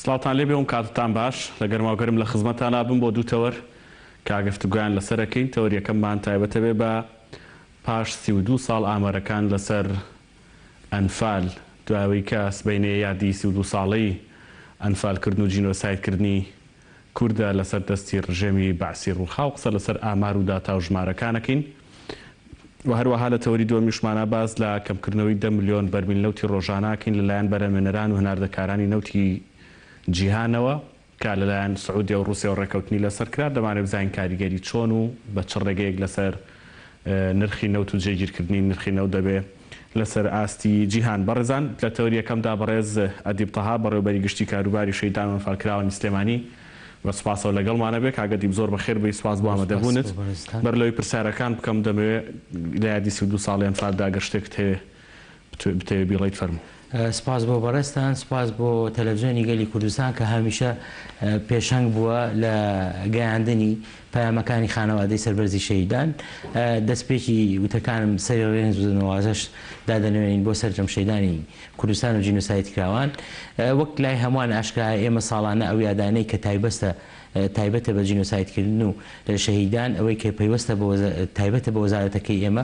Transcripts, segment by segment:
سڵاوتان لێ بێ و کاتتان باش. لە گەرما و گەرم لە خزمەتانا بم بۆ دوو تەوەر کە گفتوگۆیان لەسەر ئەکەین. تەوەر یەکەممان تایبەتە بێ بە پاش سی و دوو ساڵ ئامارەکان لەسەر ئەنفال، دوای ئەوەی کە سبەینێ یادی سی و دوو ساڵەی ئەنفالکردن و جینۆسایدکردنی کوردە لەسەر دەستی ڕژێمی بەعسی ڕووخاو قسە لەسەر ئامار و داتا و ژمارەکانەکەین و هەروەها لە تەوەری دووەمیشمانە باس لە کەمکردنەوەی دە ملیۆن بەرمیل نەوتی ڕۆژانەکەین لەلایەن بەرەمێنەران و هەناردەکارانی نەوتی جیهانەوە کە لەلایەن سعودیە و ڕووسیەوە ڕێکەوتنی لەسەر کرا دەمانەوێت بزانین کاریگەری چۆن و بە چ ڕێگەیەک لەسەر نرخی نەوت و جێگیرکردنی نرخی نەوت دەبێت. لەسەر ئاستی جیهان. بەڕێزان لە تەوەریەکەمدا بەڕێز ئەدیب تەها بەڕێوبەری گشتی کاروباری شەیدان وەنفال کراوانی سلێمانی بە سوپاسەوە لەگەڵمانە بێ کاک ئەدیب زۆر بەخێر بێی سوپاس بۆ ئامەدە بوونت بەر لەوەی پرسیارەکان بکەم دەمەوێ لە یادی سی و دوو ساڵی ئەنفالدا گەر شتێکت هەیە بتەوێ بیڵێیت فەرموو. سپاس بۆ بەڕێزتان، سپاس بۆ تەلەفزیۆنی گەلی کوردستان کە هەمیشە پێشەنگ بووە لە گەیاندنی پەیامەکانی خانەوادەی سەربەرزی شەهیدان. دەستپێکی وتەکانم سەری ڕێز و نەوازەش دادەنەوێنین بۆ سەرجەم شەیدانی کوردستان و جینۆسایدکراوان. وەک لای هەمووان ئاشکرایە ئێمە ساڵانە ئەو یادانەی کە تایبەستە تایبەتە بە جینۆسایدکردن و شەهیدان، ئەوەی کە پەیوەستە بە تایبەتە بە وەزارەتەکەی ئێمە،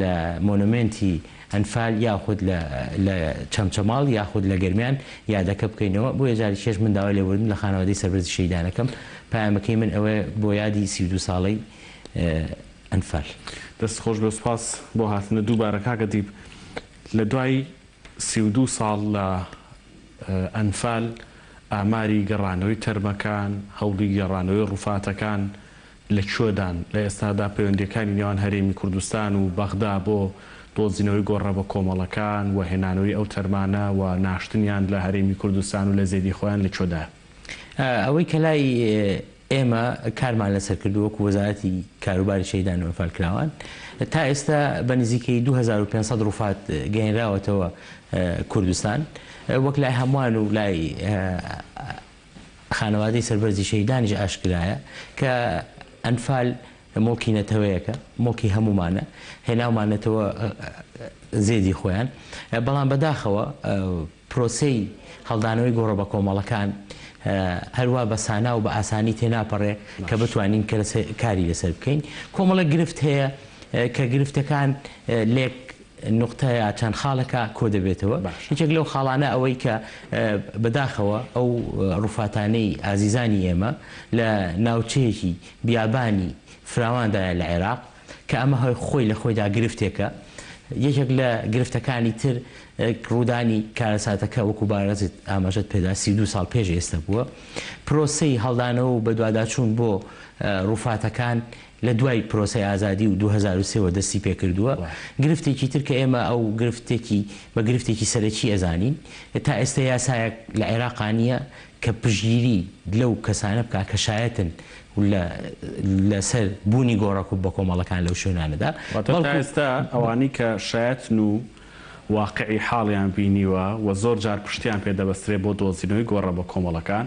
لە مۆنۆمێنتی ئەنفال یاخود لە چەمچەماڵ یاخود لە گەرمیان یادەکە بکەینەوە، بۆیە جارێکیش من داوای لێبوردن لە خانەوادەی سەربەرزی شەهیدان ئەکەم، پەیامەکەی من ئەوەیە بۆ یادی سی و دوو ساڵەی ئەنفال. دەست خۆش بێت سوپاس بۆ هاتنت دووبارە کاک ئەدیب لە دوای سی و دوو ساڵ لە ئەنفال ئاماری گەڕانەوەی تەرمەکان هەوڵی گەڕانەوەی ڕوفاتەکان لە کوێدان لە ئێستادا پەیوەندییەکانی نێوان هەرێمی کوردستان و بەغدا بۆ دۆزینەوەی گۆڕە بەکۆمەڵەکان و هێنانەوەی ئەو تەرمانە و ناشتنیان لە هەرێمی کوردستان و لە زێدی خۆیان لە کوێدایە؟ ئەوەی کە لای ئێمە کارمان لەسەر کردووە وەکوو وەزارەتی کاروباری شەهیدان و ئەنفالکراوان تا ئێستا بە نزیکەیی دوو هەزار و پێنج سەد ڕووفات گەیێنراوەتەوە کوردستان وەک لای هەمووان و لای خانەوادەی سەربەرزی شەهیدانیش ئاشکرایە کە ئەنفال موڵکی نەتەوەیەکە، موڵکی هەموومانە، هێناومانەتەوە زێدی خۆیان، بەڵام بەداخەوە پرۆسەی هەڵدانەوەی گۆڕە بەکۆمەڵەکان هەروا بە سانا و بە ئاسانی تێناپەڕێ کە بتوانین کاری لەسەر بکەین. کۆمەڵێک گرفت هەیە کە گرفتەکان لێک نوقتە یا چەند خاڵێکا کۆدەبێتەوە، یەکێک لەو خاڵانە ئەوەی کە بەداخەوە ئەو ڕووفاتانەی ئازیزانی ئێمە لە ناوچەیەکی بیابانی فراواندایە لە عێراق کە ئەمە هەر خۆی لە خۆیدا گرفتێکە، یەکێک لە گرفتەکانی تر ڕوودانی کارەساتەکە وەکو بارزت ئاماژەت پێدا سی و دوو ساڵ پێش ئێستە بووە، پرۆسەی هەڵدانەوە و بەدواداچوون بۆ ڕووفاتەکان لە دوای پرۆسەی ئازادی و دوو هەزار و سێ وە دەستی پێ کردووە، گرفتێکی تر کە ئێمە ئەو گرفتێکی بە گرفتێکی سەرەکی ئەزانین، تا ئێستە یاسایەک لە عێراقا نییە کە پشتگیری لەو کەسانە بکا کە شایەتن لە لە سەر بوونی گۆڕە بەکۆمەڵەکان لەو شوێنانەدا، واتە تا ئێستا ئەوانەی کە شایەتن و واقعی حاڵیان بینیوە و زۆر جار پشتیان پێ دەبەسترێ بۆ دۆزینەوەی گۆڕە بەکۆمەڵەکان،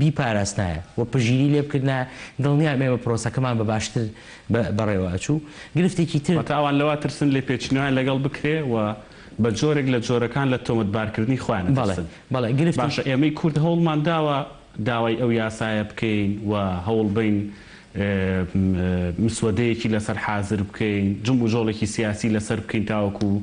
بیپاراستنایە و پژیری لێ بکردنایە، دڵنیام ئێمە پرۆسەکەمان بە باشتر بەڕێوە ئەچوو. گرفتێکی تر. واتە ئەوان لەوە ترسن لێپێچینەوەیان لەگەڵ بکرێ و بە جۆرێک لە جۆرەکان لە تۆمەتبارکردنی خۆیان ئەترسن. بەڵێ، گرفتی. باشە ئێمەی کورد هەوڵمان داوە داوای ئەو یاسایە بکەین و هەوڵ بەین مسوەدەیەکی لەسەر حازر بکەین، جموجۆڵێکی سیاسی لەسەر بکەین تاوەکوو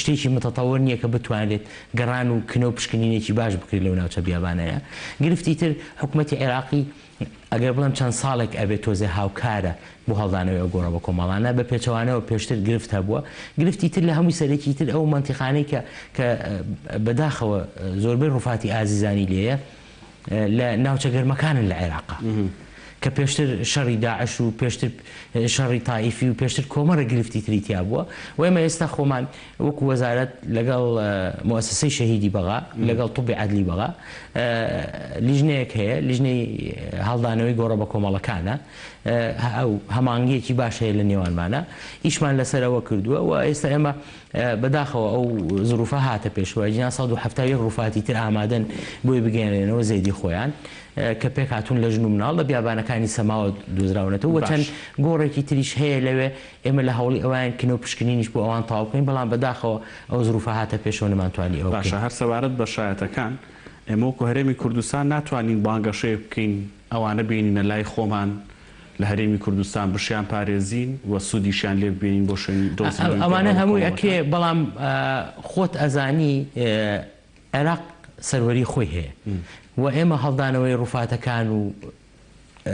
شتێکی متطور نیە کە بتوانرێت گەڕان و کنە و پشکنینێکی باش بکرێت لەو ناوچە بیابانەیە. گرفتی تر حکومەتی عێراقی ئەگەر بڵێم چەند ساڵێک ئەبێت تۆزێ هاوکارە بۆ هەڵدانەوەی ئەو گۆڕە بەکۆمەڵانە، بە پێچەوانەوە پێشتر گرفت هەبووە. گرفتی تر لە هەمووی سەرەکی تر ئەو مەنتیقانەی کە کە بەداخەوە زۆربەی ڕوفاتی ئازیزانی لێیە، لە ناوچە گەرمەکانن لە عێراق کە پێشتر شەڕی داعش و پێشتر شەڕی تائیفی و پێشتر کۆمەڕە گرفتی تری تیا بووە و ئێمە ئێستا خۆمان وەکو وەزارەت لەگەڵ مؤسسەی شەهیدی بەغا لەگەڵ طبی عدلی بەغا لیژنەیەک هەیە لیژنەی هەڵدانەوەی گۆڕە بە کۆمەڵەکانە ئەو هەمانگیەکی باش هەیە لە نێوانمانە ئیشمان لەسەرەوە کردووە و ئێستا ئێمە بە داخەوە ئەو زروفە هاتە پێشەوە ئەگینا سەد و حەفتا و یەک روفاتی تر ئامادەن بۆی بگەیەنرێنەوە زێدی خۆیان کە پێک هاتوون لە ژن و مناڵ لە بیابانەکانی سەماوە دۆزراونەتەوە و چەند باش. گۆڕێکی تریش هەیە لەوێ ئێمە لە هەوڵی ئەوەین کنە و پشکنینیش بۆ ئەوان تەواو بکەین بەڵام بە داخەوە ئەو زروفە هاتە پێشەوە نەمانتوانی ئەوە باشە بکەین. هەر سەبارەت بە شایەتەکان ئێمە وەکو هەرێمی کوردستان ناتوانین بانگەشەیەک بکەین ئەوانە بێنینە لای خۆمان لە هەرێمی کوردستان بشیان پارێزین و سودیشیان لێ ببینین بۆ شوێنی دۆزی نوێی گەڕەک و کۆڵەکان. ئەوانە هەمووی ئەکرێ بەڵام خۆت ئەزانی عێراق سەروەری خۆی هەیە و ئێمە هەڵدانەوەی ڕوفاتەکان و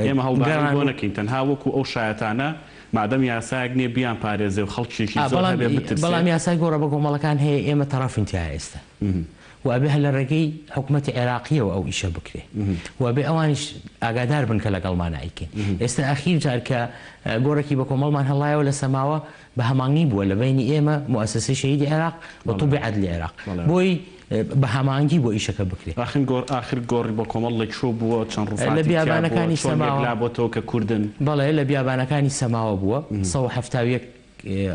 ئێمە هەڵدانەوەی بۆ نەکەین تەنها وەکو ئەو شایەتانە مادەم یاسایەک نیە بیان پارێزێ و خەڵکیێکی زۆر هەبێ بترسێ. بەڵام یاسای گۆڕە بەکۆمەڵەکان هەیە ئێمە تەڕەفین تیایا ئێستا. و ئەبێ هەر لە ڕێگەی حکومەتی عێراقییەوە ئەو ئیشە بکرێ و ئەبێ ئەوانیش ئاگادار بن کە لەگەڵمان ئەیکەین. ئێستا ئەخیر جار کە گۆڕێکی بە کۆمەڵمان هەڵایەوە لە سەماوە بە هەمانگی بووە لە بەینی ئێمە موئەسەسەی شەهیدی عێراق و طوبی عەدلی عێراق بۆی بە هەمانگی بۆ ئیشەکە بکرێ. ئاخن گۆڕ ئاخر گۆڕی بە کۆمەڵ لە کوێ بووە؟ چەند ڕووفاتی تیا بووە؟ لە بیابانەکانی سەماوە. چۆن یەکلا بۆتەوە کە کوردن؟ بەڵێ لە بیابانەکانی سەماوە بووە. سەد و حەفتا و یەک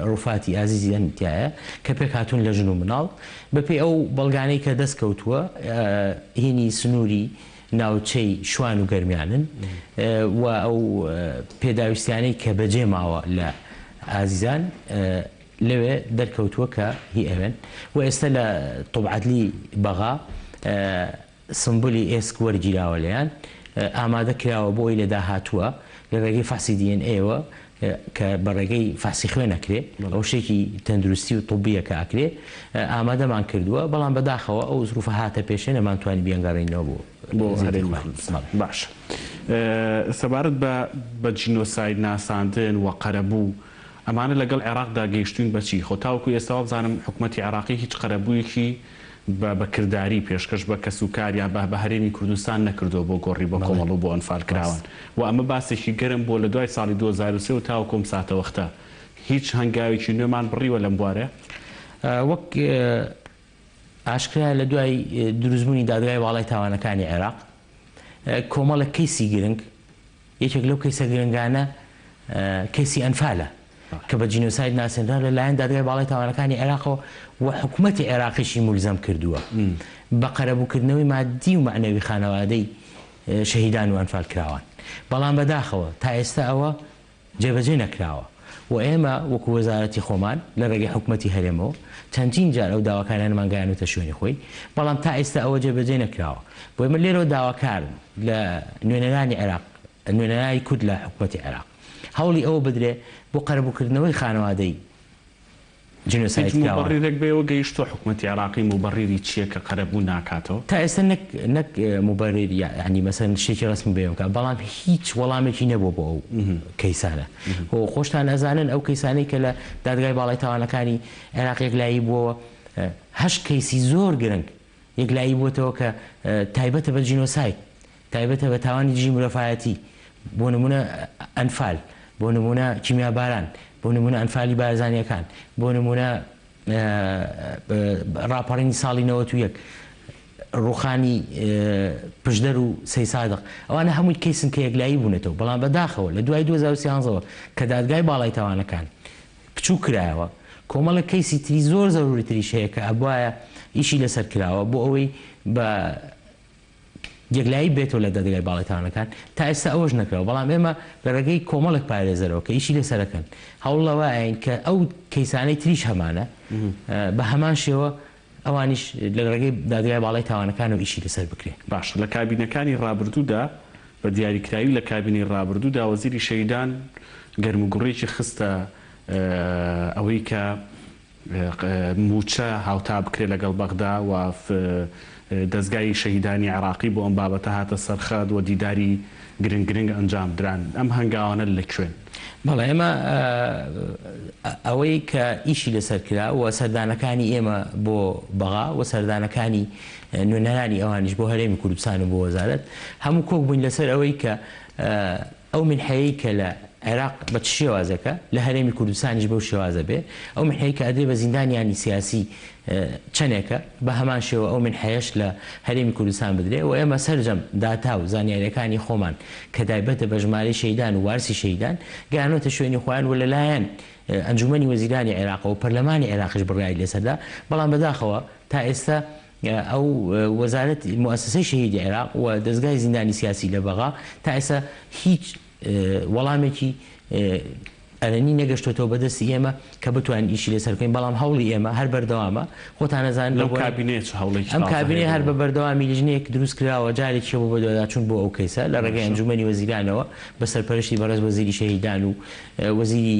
روفاتی ئازیزی ئەم تایە کە پێکهاتوون لە ژن و مناڵ، بەپێی ئەو بەڵگانەی کە دەستکەوتووە هینی سنووری ناوچەی شوان و گەرمیانن و ئەو پێداویستیانەی کە بەجێماوە لە ئازیزان لەوێ دەرکەوتووە کە هی ئەوێن و ئێستە لە طوبعەدلی بەغا سمبولی ئێسک وەرگیراوە لێیان، ئامادە کراوە بۆ ئەوی لە داهاتووە لە رێگەی فەحسی دی ئێن ئەیەوە کە بە رێگەی فەحسی خوێن ئەکرێ، ئەوە شتێکی تەندروستی و طبیە کە ئەکرێ، ئامادەمان کردووە، بەڵام بە داخەوە ئەو زروفە هاتە پێشێ نەمانتوانی بیانگەڕێنینەوە بۆ هەرێمی کوردستان. باشە سەبارەت بە بە جینۆساید ناساندن و قەرەبوو، ئەمانە لەگەڵ عێراقدا گەیشتووین بە چی؟ خۆ تاوەکو ئێستا وابزانم حکومەتی عێراقی هیچ قەرەبوویەکی بە بە کرداری پێشکەش بە کەس و کار یا بە بە هەرێمی کوردستان نەکردووە بۆ گۆڕی بە بەڵێ کۆمەڵ و بۆ ئەنفال ڕاست. کراوان و ئەمە باسێکی گەرم بووە لە دوای ساڵی دوو هەزار و سێ و تاوەکو ئەم ساتەوەختە هیچ هەنگاوێکی نوێمان بڕیوە لەم بوارە؟ وەک ئاشکرایە لە دوای دروستبوونی دادگای باڵای تاوانەکانی عێراق کۆمەڵێک کەیسی گرنگ یەکێک لەو کەیسە گرنگانە کەیسی ئەنفالە کە بە جینۆساید ناسێنرا لە لایەن دادگای باڵای تاوانەکانی عێراقەوە و حکومەتی عێراقیشی مولزەم کردووە بە قەرەبووکردنەوەی مادی و مەعنەوی خانەوادەی شەهیدان و ئەنفالکراوان بەڵام بەداخەوە تا ئێستا ئەوە جێبەجێ نەکراوە. و ئێمە وەکو وەزارەتی خۆمان لە ڕێگەی حکومەتی هەرێمەوە چەندین جار ئەو داواکاریانەمان گەیانوتە شوێنی خۆی بەڵام تا ئیستا ئەوە جێ بەجێ نەکراوە بۆیە من لێرەوە داواکارم لە نوێنەرانی عێراق نوێنەرای کورد لە حکومەتی عێراق هەوڵی ئەوە بدرێ بۆ قەرەبووکردنەوەی خانەوادەی جینۆساید هیچ کراوە. موبەڕیرێک بەوە گەیشتووە حکومەتی عێراقی موبەڕیری چییە کە قەرەبوو ناکاتەوە؟ تا ئێستا نەک نەک موبەریر یەعنی مەسەلەن شتێکی ڕەسمی بەیان بکات بەڵام هیچ وەڵامێکی نەبووە بۆ ئەو کەیسانە و خۆشتان ئەزانن ئەو کەیسانەی کە لە دادگای باڵای تاوانەکانی عێراق یەکلایی بووەوە هەشت کەیسی زۆر گرنگ یەکلایی بووەتەوە کە تایبەتە بە جینۆساید، تایبەتە بە تاوانی دژی مرۆڤایەتی، بۆ نموونە ئەنفال، بۆ نموونە کیمیاباران، بۆ نموونە ئەنفالی بارزانییەکان، بۆ نموونە ڕاپەڕینی ساڵی نەوەت و یەک، ڕووخانی پشدەر و سەیسادق، ئەوانە هەمووی کەیسن کە یەکلایی بوونەتەوە، بەڵام بەداخەوە لە دوای دوو هەزار و سیانزە وە کە دادگای باڵای تاوانەکان بچوک کرایەوە کۆمەڵێک کەیسی تری زۆر زەروری تریش هەیە کە ئەبوایە ئیشی لەسەر کراوە بۆ ئەوەی بە یەکلایی بێتەوە لە دادگای باڵای تاوانەکان تا ئێستا ئەوەش نەکراوە بەڵام ئێمە لە رێگەی کۆمەڵێک پارێزەرەوە کە ئیشی لەسەرەکەن هەوڵەوە ئاین کە ئەو کەیسانەی تریش هەمانە بە هەمان شێوە ئەوانیش لە ڕێگەی دادگای باڵای تاوانەکانەوە ئیشی لەسەر بکرێ. باشە لە کابینەکانی ڕابردوودا بە دیاریکراوی لە کابینەی ڕابردوودا وەزیری شەهیدان گەرموگوڕێکی خستە ئەوەی کە مووچە هاوتا بکرێ لەگەڵ بەغدا و دەزگای شەهیدانی عێراقی بۆ ئەم بابەتە هاتە سەرخەت و دیداری گرنگ گرنگ ئەنجام دران ئەم هەنگاوانە لە کوێن؟ بەڵێ ئێمە ئەوەی کە ئیشی لەسەر کرا و سەردانەکانی ئێمە بۆ بەغا و سەردانەکانی نوێنەرانی ئەوانیش بۆ هەرێمی کوردستان و بۆ وەزارەت هەموو کۆک بووین لەسەر ئەوەی کە ئەو منحەیەی کە لە عێراق بە چ شێوازێکە لە هەرێمی کوردستانیش بەو شێوازە بێ ئەو منحەیەی کە ئەدرێ بە زیندانیانی سیاسی چەنێکە، بە هەمان شێوە ئەو مینحەیەش لە هەرێمی کوردستان بدرێ و ئێمە سەرجەم داتا و زانیارییەکانی خۆمان کە تایبەتە بە ژمارەی شەهیدان و وارسی شەهیدان، گەیانۆتە شوێنی خۆیان و لەلایەن ئەنجوومەنی وەزیرانی عێراقەوە و پەرلەمانی عێراقیش بڕیاری لەسەر دا، بەڵام بەداخەوە تا ئێستە ئەو وەزارەتی، موئەسەسەی شەهیدی عێراق و دەزگای زیندانی سیاسی لە بەغا تا ئێستە هیچ. وەڵامێکی ئەرێنی نەگەشتۆتەوە بە دەستی ئێمە کە بتوانین ئیشی لەسەر بکەین، بەڵام هەوڵی ئێمە هەر بەردەوامە، خۆتان ئەزانن لەو بۆنە. ئەم کابینەیە چ هەوڵێکی تازە هەیە؟ ئەم کابینەیە هەر بە بەردەوامی لیژنەیەک دروست کراوە، جارێکیشە بۆ بەدواداچوون بۆ ئەو کەیسە لە ڕێگەی ئەنجوومەنی وەزیرانەوە بە سەرپەرشتی بەڕێز وەزیری شەهیدان و وەزیری.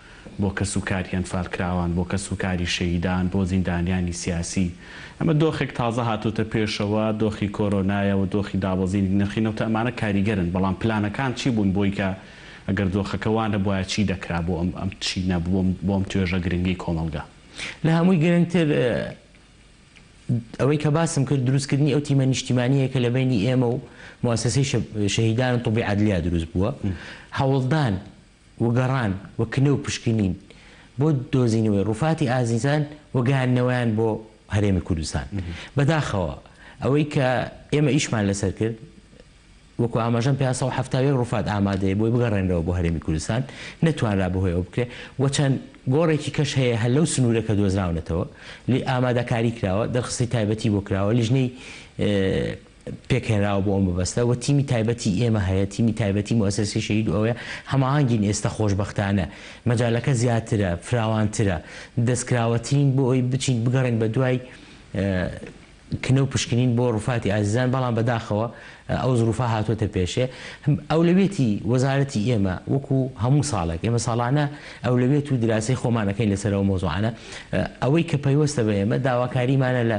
بۆ کەس و کاری ئەنفالکراوان، بۆ کەس و کاری شەهیدان، بۆ زیندانیانی سیاسی. ئەمە دۆخێک تازە هاتۆتە پێشەوە، دۆخی کۆرۆنایە و دۆخی دابەزینی نرخی نەوتە، ئەمانە کاریگەرن، بەڵام پلانەکان چی بوون بۆی کە ئەگەر دۆخەکە وا نەبوایە چی دەکرا بۆ ئەم ئەم چی نەبوو بۆ ئەم توێژە گرنگەی کۆمەڵگا؟ لە هەمووی گرنگتر ئەوەی کە باسم کرد دروستکردنی ئەو تیمە نیشتیمانییە کە لە بەینی ئێمە و موئەسەسەی شەهیدان و طوبی عەدلیا دروست بووە، هەوڵدان، و گەڕان و کنە و پشکنین بۆ دۆزینەوەی ڕووفاتی ئازیزان و گەیاندنەوەیان بۆ هەرێمی کوردستان. بەداخەوە ئەوەی کە ئێمە ئیشمان لەسەر کرد، وەکو ئاماژەم پێ سەد و حەفتا و یەک ڕووفات ئامادەیە بۆی بگەڕێنرەوە بۆ هەرێمی کوردستان، نەتوانرا بەهۆی ئەوە بکرێ و چەند گۆڕێکی کەش هەیە هەر لەو سنوورە کە دۆزراونەتەوە، لێ ئامادەکاری کراوە، دەرخستی تایبەتی بۆ کراوە، لیژنەی. پێکهێنراوە بۆ ئەم مەبەستە وە تیمی تایبەتی ئێمە هەیە تیمی تایبەتی موسەسەی شەهید ئەوەیە هەماهەنگین ئێستا خۆشبەختانە مەجالەکە زیاترە فراوانترە دەستکراوەترین بۆ ئەوەی بچین بگەڕێن بە دوای کنە و پشکنین بۆ ڕوفاتی ئازیزان بەڵام بەداخەوە ئەو زروفە هاتووەتە پێشێ ئەولەوێتی وەزارەتی ئێمە وەکو هەموو ساڵێک ئێمە ساڵانە ئەولەوێت و دراسی خۆمانەکەین لەسەرەوە مۆزوعانە ئەوەی کە پەیوەستە بە ئێمە داواکاریمانە لە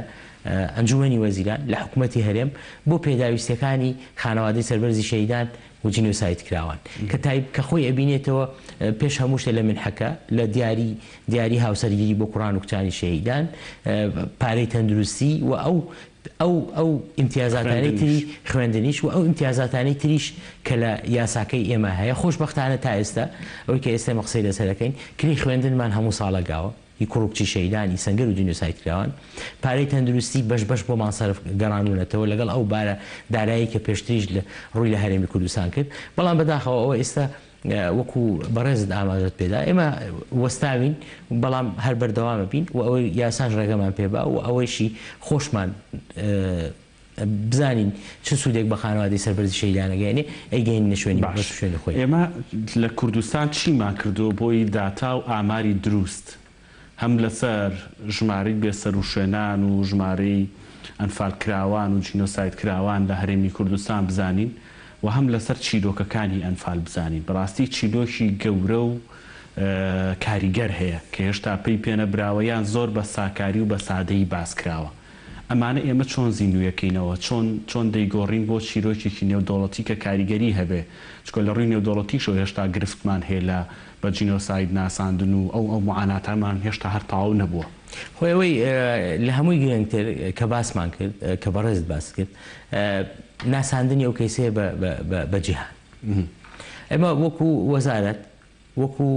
ئەنجومەنی وەزیران لە حکومەتی هەرێم بۆ پێداویستیەکانی خانەوادەی سەربەرزی شەهیدان و جینۆسایدکراوان کە تای کە خۆی ئەبینێتەوە پێش هەموو شتێ لە منحەکە لە دیاری دیاری هاوسەرگیری بۆ کوڕان و کچانی شەهیدان پارەی تەندروستی و ئەو ئەو ئەو ئیمتیازاتانەی تری خوێندنیش و ئەو ئیمتیازاتانەی تریش کە لە یاساکەی ئێمە هەیە خۆشبەختانە تا ئێستا ئەوەی کە ئێستا ئێمە قسەی لەسەر دەکەین کرێی خوێندنمان هەموو ساڵە گاوە ی کوڕ و کچی شەهیدانی سەنگەر و جینۆسایدکراوان، پارەی تەندروستی بەش بەش بۆمان سەرف گەڕانوونەتەوە لەگەڵ ئەو بارە دارایی کە پێشتریش ڕووی لە هەرێمی کوردستان کرد، بەڵام بەداخەوە ئەوە ئێستا وەکو بەڕێزت ئاماژەت پێدا ئێمە وەستاوین بەڵام هەر بەردەوامەبین و ئەوەی یاساش ڕێگەمان پێبا و ئەوەیشی خۆشمان بزانین چ سودێک بە خانەوادەی سەربەرزی شەهیدان ئەگەیەنێ ئەیگەینینە شوێنی مەبەست و شوێنی خۆی. ئێمە لە کوردستان چیمان کردووە بۆی داتا و ئاماری دروست هەم لەسەر ژمارەی بێسەروشوێنان و ژمارەی ئەنفالکراوان و جینۆسایدکراوان لە هەرێمی کوردستان بزانین و هەم لەسەر چیرۆکەکانی ئەنفال بزانین بەڕاستی چیرۆکی گەورە و کاریگەر هەیە کە هێشتا پەی پێنەبراوە یان زۆر بە ساکاری و بە سادەیی باسکراوە. ئەمانە ئێمە چۆن زیندوویەکەینەوە؟ چۆن چۆن دەیگۆڕین بۆ چیرۆکێکی نێودەوڵەتی کە کاریگەری هەبێ؟ چونکە لە ڕووی نێودەوڵەتیشەوە هێشتا گرفتمان هەیە لە بە جینۆساید ناساندن و ئەو ئەو معاناتەمان هێشتا هەر تەواو نەبووە. خۆ ئەوەی لە هەمووی گرنگتر کە باسمان کرد، کە بەڕێزت باست کرد، ناساندنی ئەو کەیسەیە بە بە بە بە جیهان. ئێمە وەکوو وەزارەت، وەکوو،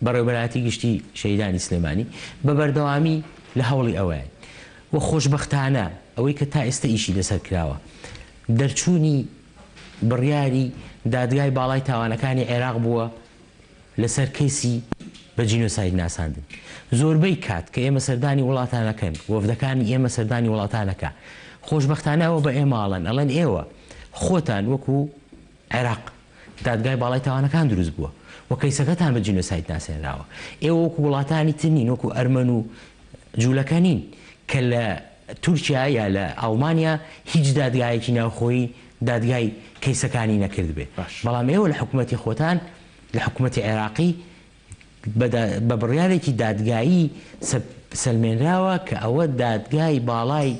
بەڕێوەبەرایەتی گشتی شەهیدانی سلێمانی بە بەردەوامی لە هەوڵی ئەوەیەن و خۆشبەختانە ئەوەی کە تا ئێستە ئیشی لەسەر کراوە دەرچوونی بڕیاری دادگای باڵای تاوانەکانی عێراق بووە لەسەر کەیسی بە جینۆساید ناساندن. زۆربەی کات کە ئێمە سەردانی وڵاتانەکەن، وەفدەکانی ئێمە سەردانی وڵاتانەکە خۆشبەختانە ئەوە بە ئێمە ئەڵێن، ئەڵێن ئێوە خۆتان وەکوو، عێراق، دادگای باڵای تاوانەکان دروست بووە و کەیسەکەتان بە جینۆساید ناسێنراوە. ئێوە وەکو وڵاتانی تر نین، وەکو ئەرمەن و جوولەکە نین کە لە تورکیا یا لە ئاڵمانیا هیچ دادگایەکی ناوخۆیی دادگای کەیسەکانی نەکردبێ، بەڵام ئێوە لە حکومەتی خۆتان، لە حکومەتی عێراقی، بە بڕیارێکی دادگایی سەلمێنراوە کە ئەوە دادگای باڵای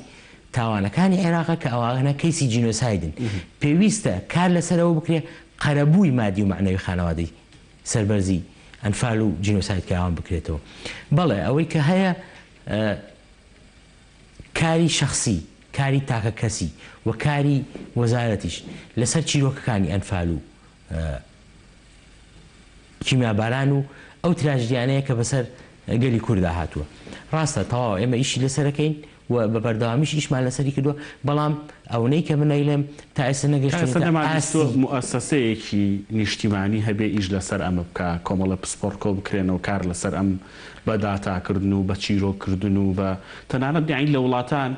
تاوانەکانی عێراقە کە ئەوانە کەیسی جینۆسایدن. پێویستە کار لەسەر ئەوە بکرێت قەرەبووی مادی و مەعنەوی خانەوادەی سەربەرزی ئەنفال و جینۆسایدکراوان بکرێتەوە. بەڵێ ئەوەی کە هەیە کاری شەخسی، کاری تاکەکەسی و کاری وەزارەتیش لەسەر چیرۆکەکانی ئەنفال و کیمیاباران و ئەو تراژدیانەیە کە بەسەر گەلی کورددا هاتووە ڕاستە تەواوە ئێمە ئیشی لەسەرەکەین و بە بەردەوامیش ئیشمان لەسەری کردووە بەڵام ئەونەی کە من ئەیڵێم تا ئێستا نەگەشتووەتە ئاستی موئەسەسەیەکی نیشتیمانی هەبێ ئیش لەسەر ئەمە بکا کۆمەڵە پسپۆڕ کۆ بکرێن و کار لەسەر ئەم بە داتاکردن و بە چیرۆک کردن و بە تەنانەت یانی لە وڵاتان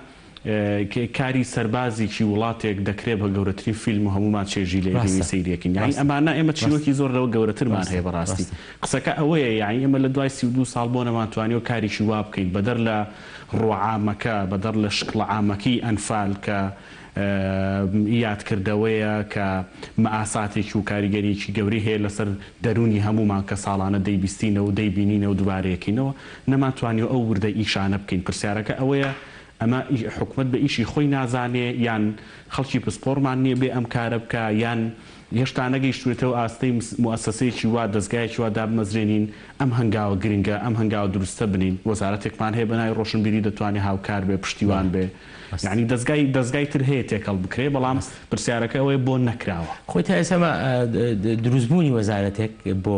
کاری سەربازیکی وڵاتێک دەکرێ بە گەورەترین فیلم و هەموومان چێژی لێ ئەبینین ڕاستە سەیری ئەکەین یاعی ڕاستە ئەمانە ئێمە ڕاستە چیرۆکی زۆر لەوە گەورەترمان هەیە ڕاستە بەڕاستی ڕاستە. قسەکە ئەوەیە یاعی ئێمە لە دوای سی و دوو ساڵ بۆ نەمانتوانیوە کاریکی وا بکەین بەدەر لە ڕووە عامەکە بەدەر لە شکڵە عامەکەی ئەنفال کە ئی یادکردەوەیە کە مەئاساتێکی و کاریگەریەکی گەورەی هەیە لەسەر دەروونی هەموومان کە ساڵانە دەیبیستینەوە و دەیبینینەوە دوبارەیەکەینەوە نەمانتوانیوە ئەو وردە ئیشانە بکەین پرسیارەکە ئەوەیە ئەمە حکومەت بە ئیشی خۆی نازانێ یان خەڵکی پسپۆڕمان نیە بێ ئەم کارە بکا یان هێشتا نەگەیشتوێتەوە ئاستەی موئەسەسەیەکی وا دەزگایەکی وا دابمەزرێنین ئەم هەنگاوە گرنگە ئەم هەنگاوە دروستە بنین وەزارەتێکمان هەیە بەناوی ڕۆشنبیری دەتوانێ هاوکار بێ پشتیوان بێ یانی دەزگای دەزگای تر هەیە تێکەڵ بکرێ بەڵام پرسیارەکە ئەوەیە بۆ نەکراوە؟ خۆی تا ئێستا دروستبوونی وەزارەتێک بۆ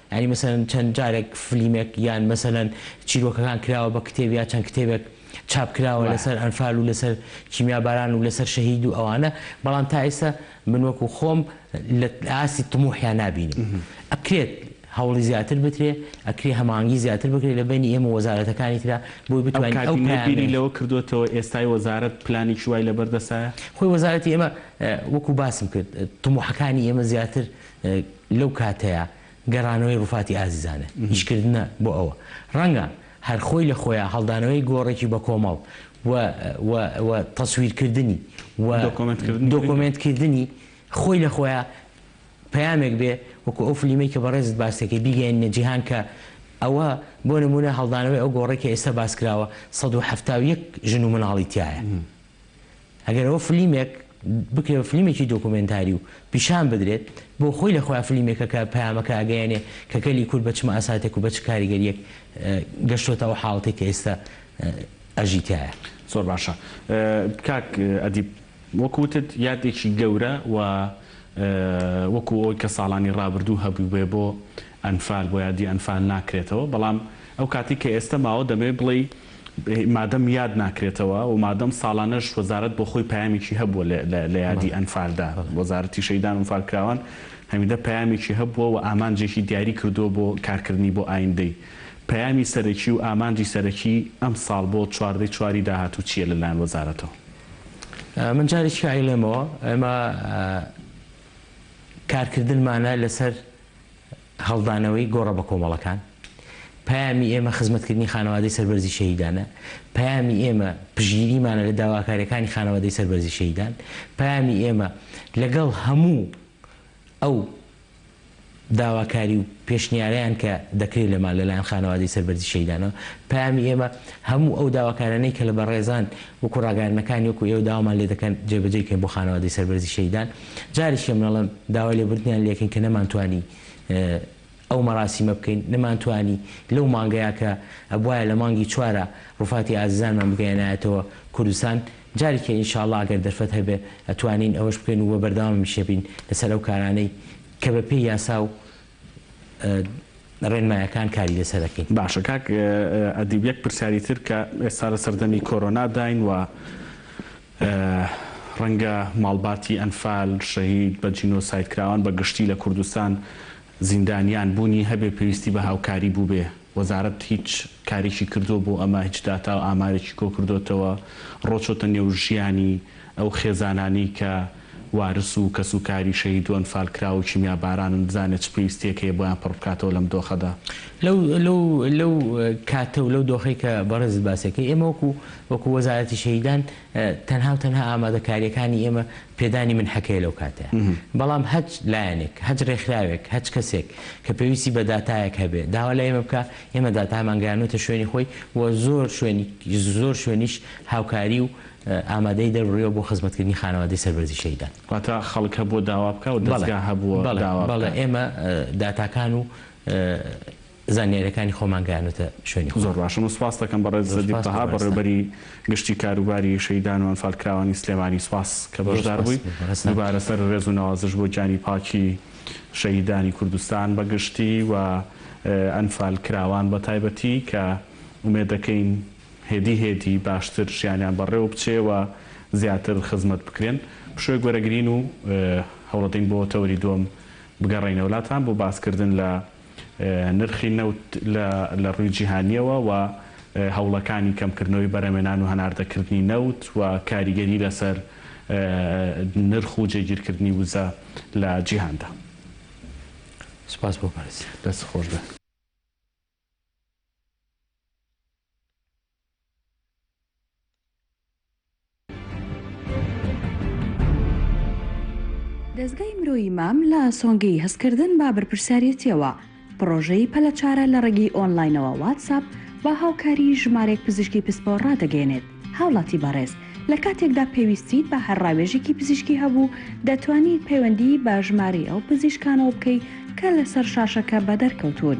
یانی مەسەلەن چەند جارێک فلیمێک یان مەسەلەن چیرۆکەکان کراوە بە کتێب یا چەند کتێبێک چاپ کراوە وە. لەسەر ئەنفال و لەسەر کیمیا باران و لەسەر شەهید و ئەوانە بەڵام تا ئێستا من وەکو خۆم لە ئاستی طموحیان نابینم ئەکرێت هەوڵی زیاتر بدرێ ئەکرێ هەماهەنگی زیاتر بکرێ لە بەینی ئێمە و وەزارەتەکانی ترا بۆی ئەو بتوانین ئەو کابینەی بیری پەیامەی لەوە کردۆتەوە ئێستای وەزارەت پلانێکی وای لەبەر دەستایە؟ خۆی وەزارەتی ئێمە وەکو باسم کرد طموحەکانی ئێمە زیاتر لەو کاتەیا گەڕانەوەی ڕوفاتی ئازیزانە ئیشکردنە بۆ ئەوە ڕەنگە هەر خۆی لە خۆیا هەڵدانەوەی گۆڕێکی بە کۆمەڵ و و و تەسویرکردنی و دۆکۆمێنتکردنی خۆی لە خۆیا پەیامێک بێ وەکو ئەو فلیمەی کە بەڕێزت باس دەکەی بیگەیەنینە جیهان کە ئەوە بۆ نموونە هەڵدانەوەی ئەو گۆڕەی کە ئێستا باس کراوە سەد و حەفتا و یەک ژن و مناڵی تیایە ئەگەر ئەوە فلیمێک بکرێ بە فلیمێکی دۆکۆمێنتاری و پیشان بدرێت، بۆ خۆی لە خۆیا فلیمێکە کە پەیامەکە ئەگەیەنێ کە گەلی کورد بە چ مەئەساتێک و بە چ کاریگەرییەک گەشتۆتە ئەو حاڵەتەی کە ئێستا ئەژی تیایە. زۆر باشە. کاک ئەدیب، وەک وتت یادێکی گەورە و وەکو ئەوەی کە ساڵانی ڕابردوو هەبووبێ بۆ ئەنفال بۆ یادی ئەنفال ناکرێتەوە، بەڵام ئەو کاتی کە ئێستە ماوە دەمەوێت بڵێی مادەم یاد ناکرێتەوە و مادەم ساڵانەش وەزارەت بۆ خۆی پەیامێکی هەبووە لە یادی ئەنفالدا، وەزارەتی شەهیدان و ئەنفالکراوان هەمیدە پەیامێکی هەبووە و ئامانجێکی دیاری کردووە بۆ کارکردنی بۆ ئایندەی. پەیامی سەرەکی و ئامانجی سەرەکی ئەمساڵ بۆ چواردە ی چوار ی داهاتوو چییە لە لایەن وەزارەتەوە؟ من جارێکی کە ئەیڵێمەوە ئێمە کارکردنمانە لەسەر. هەڵدانەوەی گۆڕە بەکۆمەڵەکان، پەیامی ئێمە خزمەتکردنی خانەوادەی سەربەرزی شەهیدانە، پەیامی ئێمە پشتگیریمانە لە داواکاریەکانی خانەوادەی سەربەرزی شەهیدان، پەیامی ئێمە لەگەڵ هەموو ئەو داواکاری و پێشنیارەیان کە دەکرێت لەمان لەلایەن خانەوادەی سەربەرزی شەهیدانەوە، پەیامی ئێمە هەموو ئەو داواکارانەی کە لە بەڕێزان وەکو ڕاگەیاندنەکانی وەکو ئێوە داوامان لێدەکەن جێبەجێی کەین بۆ خانەوادەی سەربەرزی شەهیدان. جارێکی من ئەڵێم داوای لێبوردنیان لێکەین کە نەمانتوانی ئەو مەراسیمە بکەین، نەمانتوانی لەو مانگەیا کە ئەبوایە لە مانگی چوارا ڕوفاتی ئازیزانمان بگەیەنایەتەوە کوردستان، جارێکیە ان شاءاللە ئەگەر دەرفەت هەبێ ئەتوانین ئەوەش بکەین و بەردەوامیشەبین لەسەر ئەو کارانەی کە بەپێی یاسا و ڕێنمایەکان کاری لەسەر ئەکەین. باشە کاک ئەدیب یەک پرسیاری تر کە ئێستا لە سەردەمی کۆرۆنا داین و ڕەنگە ماڵباتی ئەنفال شەهید بە جینۆساید کراوان بە گشتی لە کوردستان زیندانیان بوونی هەبێ پێویستی بە هاوکاری بووبێ وەزارەت هیچ کارێکی کردووە بۆ ئەمە هیچ داتا و ئامارێکی کۆ کردۆتەوە ڕۆچۆتە نێو ژیانی ئەو خێزانانەی کە وارس و کەسوکاری شەهید و ئەنفالکراو و کیمیابارانن بزانێت چ پێویستیەک هەیە بۆیان پڕبکاتەوە لەم دۆخەدا. لەو لەو لەو کاتە و لەو دۆخەی کە بەڕێزت باسیەکەی ئێمە وەکو وەکو وەزارەتی شەهیدان تەنها و تەنها ئامادەکاریەکانی ئێمە پێدانی منحەکەیە لەو کاتەیا بەڵام هەچ لایەنێک هەچ رێکخراوێک هەچ کەسێک کە پێویستی بە داتایەک هەبێ داوا لە ئێمە بکا ئێمە داتامان گەیانۆتە شوێنی خۆی و زۆر شوێنی زۆر شوێنیش هاوکاری و ئامادەیی دەربڕیوە بۆ خزمەتکردنی خانەوادەی سەربەرزی شەهیدان. واتە خەڵک هەبووە داوا بکا و دەزگا هەبووە داوا بکا؟ بەڵێ، بەڵێ، بەڵێ، ئێمە داتاکان و زانیاریەکانی خۆمان گەیانۆتە شوێنی خۆیان. زۆر باشە، من سوپاست دەکەم بەڕێز سەدیق تەها، بەڕێوەبەری گشتی کاروباری شەهیدان و ئەنفالکراوانی سلێمانی، سوپاس کە بەشدار بووی، دووبارە سەر ڕێز و نەوازش بۆ گیانی پاکی شەهیدانی کوردستان بە گشتی و ئەنفالکراوان بە تایبەتی کە ئومێد دەکەین، هێدی هێدی باشتر ژیانیان بەڕێوە بچێ و زیاتر خزمەت بکرێن. پشۆی گۆرەگرین و هەوڵەدەین بۆ تەوەری دووەم بگەڕێینەوە لاتان بۆ باسکردن لە نرخی نەوت لە ڕووی جیهانییەوە و هەوڵەکانی کەمکردنەوەی بەرەمێنان و هەناردەکردنی نەوت و کاریگەری لەسەر نرخ و جێگیرکردنی وزە لە جیهاندا. سپاس بۆ بەرز. دەست خۆش بێ. دەزگای مرۆیی مام لە سۆنگەی هەستکردن بە بەرپرسیاریەتیەوە پڕۆژەی پەلە چارە لە ڕێگەی ئۆنلاینەوە واتساپ بە هاوکاری ژمارێک پزیشکی پسپۆر ڕادەگەیەنێت هاوڵاتی بەڕێز لە کاتێکدا پێویستیت بە هەر ڕاوێژێکی پزیشکی هەبوو دەتوانیت پەیوەندی بە ژمارەی ئەو پزیشکانەوە بکەیت کە لەسەر شاشەکە بەدەرکەوتوون.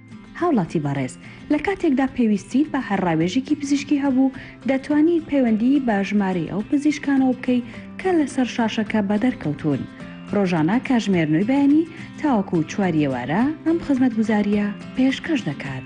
هاوڵاتی بەڕێز لە کاتێکدا پێویستیت بە هەر ڕاوێژێکی پزیشکی هەبوو، دەتوانیت پەیوەندیی بە ژمارەی ئەو پزیشکانەوە بکەیت کە لەسەر شاشەکە بەدەر کەوتوون. ڕۆژانە کاژمێر نۆی بەیانی تاوەکوو چواری ئێوارە ئەم خزمەتگوزارییە پێشکەش دەکات.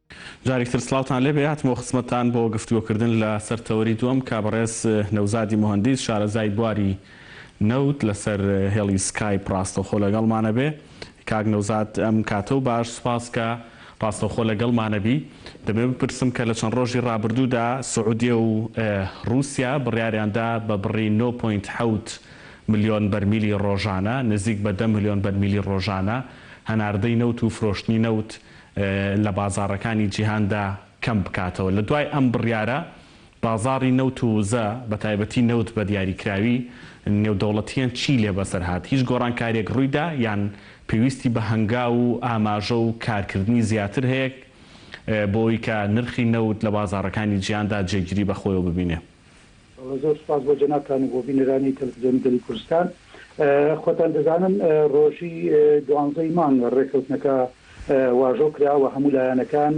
جاریک تر سڵاوتان لێبێ هاتمەوە خزمەتتان بۆ گفتوگۆ کردن لە سەر تەوەری دووەم کا بەڕێز نەوزادی موهەندیس شارەزای بواری نەوت لە سەر هێڵی سکایپ ڕاستەوخۆ لە گەڵمانە بێ کاک نەوزاد ئەم کاتەو باش سوپاس کە ڕاستەوخۆ لە گەڵمانە بی دەمەوێ بپرسم کە لە چەند ڕۆژی ڕابردوو دا سعودیە و ڕووسیا بڕیاریان دا بە بڕی نۆ پۆینت حەوت ملیۆن بەرمیلی ڕۆژانە نزیک بە دە ملیۆن بەرمیلی ڕۆژانە هەناردەی نەوت و فرۆشتنی نەوت لە بازاڕەکانی جیهاندا کەم بکاتەوە. لە دوای ئەم بڕیارە، بازاڕی نەوت و وزە، بە تایبەتی نەوت بە دیاریکراوی، نێودەوڵەتییان چیی لێ بەسەر هات؟ هیچ گۆڕانکارییەک ڕووی دا یان پێویستی بە هەنگاو و ئاماژە و کارکردنی زیاتر هەیە بۆ ئەوەی کە نرخی نەوت لە بازاڕەکانی جیهاندا جێگیری بە خۆیەوە ببینێ؟ زۆر سوپاس بۆ جەنابتان و بۆ بینەرانی تەلەفزیۆنی گەلی کوردستان. خۆتان دەزانن ڕۆژی دوانزەی مانگ ڕێکەوتنەکە واژۆ کرا و هەموو لایەنەکان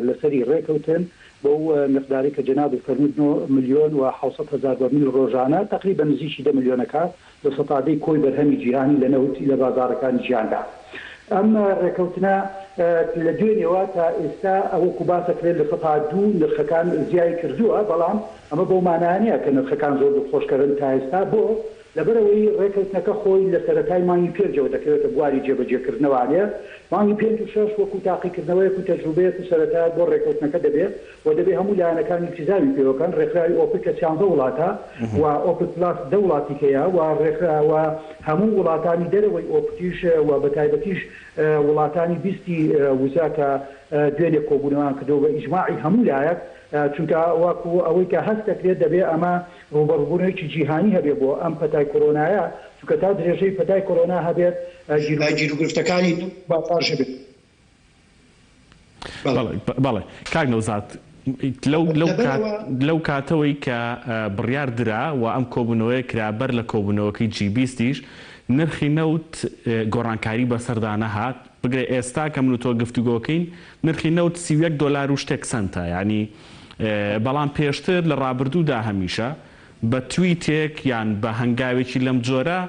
لەسەری ڕێکەوتن بەو میقدارەی کە جەنابت فەرمووت نۆ ملیۆن و حەوسەد هەزار بەرمیل ڕۆژانە تەقریبەن نزیکی دە ملیۆنەکە لە سەتادەی کۆی بەرهەمی جیهانی لە نەوت لە بازاڕەکانی جیهاندا. ئەم رێکەوتنە لە دوێنێوە تا ئێستا وەکو باسەکرێت لە سەتا دوو نرخەکان زیای کردووە، بەڵام ئەمە بەو مانایە نیە کە نرخەکان زۆر دڵخۆشکەرن تا ئێستا، بۆ؟ لەبەرئەوەی رێکەوتنەکە خۆی لە سەرەتای مانگی پێنجەوە دەکەوێتە بواری جێبەجێکردنەوە، ئەلێ مانگی پێنج و شەش وەکو تاقیکردنەوەیەک و تەجروبەیەک و سەرەتایەک بۆ رێکەوتنەکە دەبێ و دەبێ هەموو لایەنەکانی سزاوی پێوە بکەن، ڕێکخراوی ئۆپک کە سیانزە وڵاتە و ئۆپک پلاس دە وڵاتی تێیە و ڕێکخرا و هەموو وڵاتانی دەرەوەی ئۆپکیش و بە تایبەتیش وڵاتانی بیست ی وزە کە دوێنێ کۆبوونەوەیان کردووە بە ئیجماعی هەموو لایەک چونکە وەکو ئەوەی کە هەست دەکرێت دەبێ ئەمە ڕووبەڕووبوونەوەیەکی جیهانی هەبێ بۆ ئەم پەتای کۆرۆنایە چونکە تا درێژەی پەتای کۆرۆنا هەبێت گیروگرفتەکانی نەوت و بازاڕ ژەبێت. بەڵێ کاک نەوزاد لەو کاتەوەی کە بڕیار درا و ئەم کۆبوونەوەیە کرا بەر لە کۆبوونەوەکەی جی بیستیش نرخی نەوت گۆڕانکاری بەسەردا نەهات بگرە ئێستا کە من و تۆ گفتوگۆکەین نرخی نەوت سی و یەک دۆلار و شتێک سەنتە یانی بەڵام پێشتر لە ڕابردوودا هەمیشە بە تویتێک یان بە هەنگاوێکی لەم جۆرە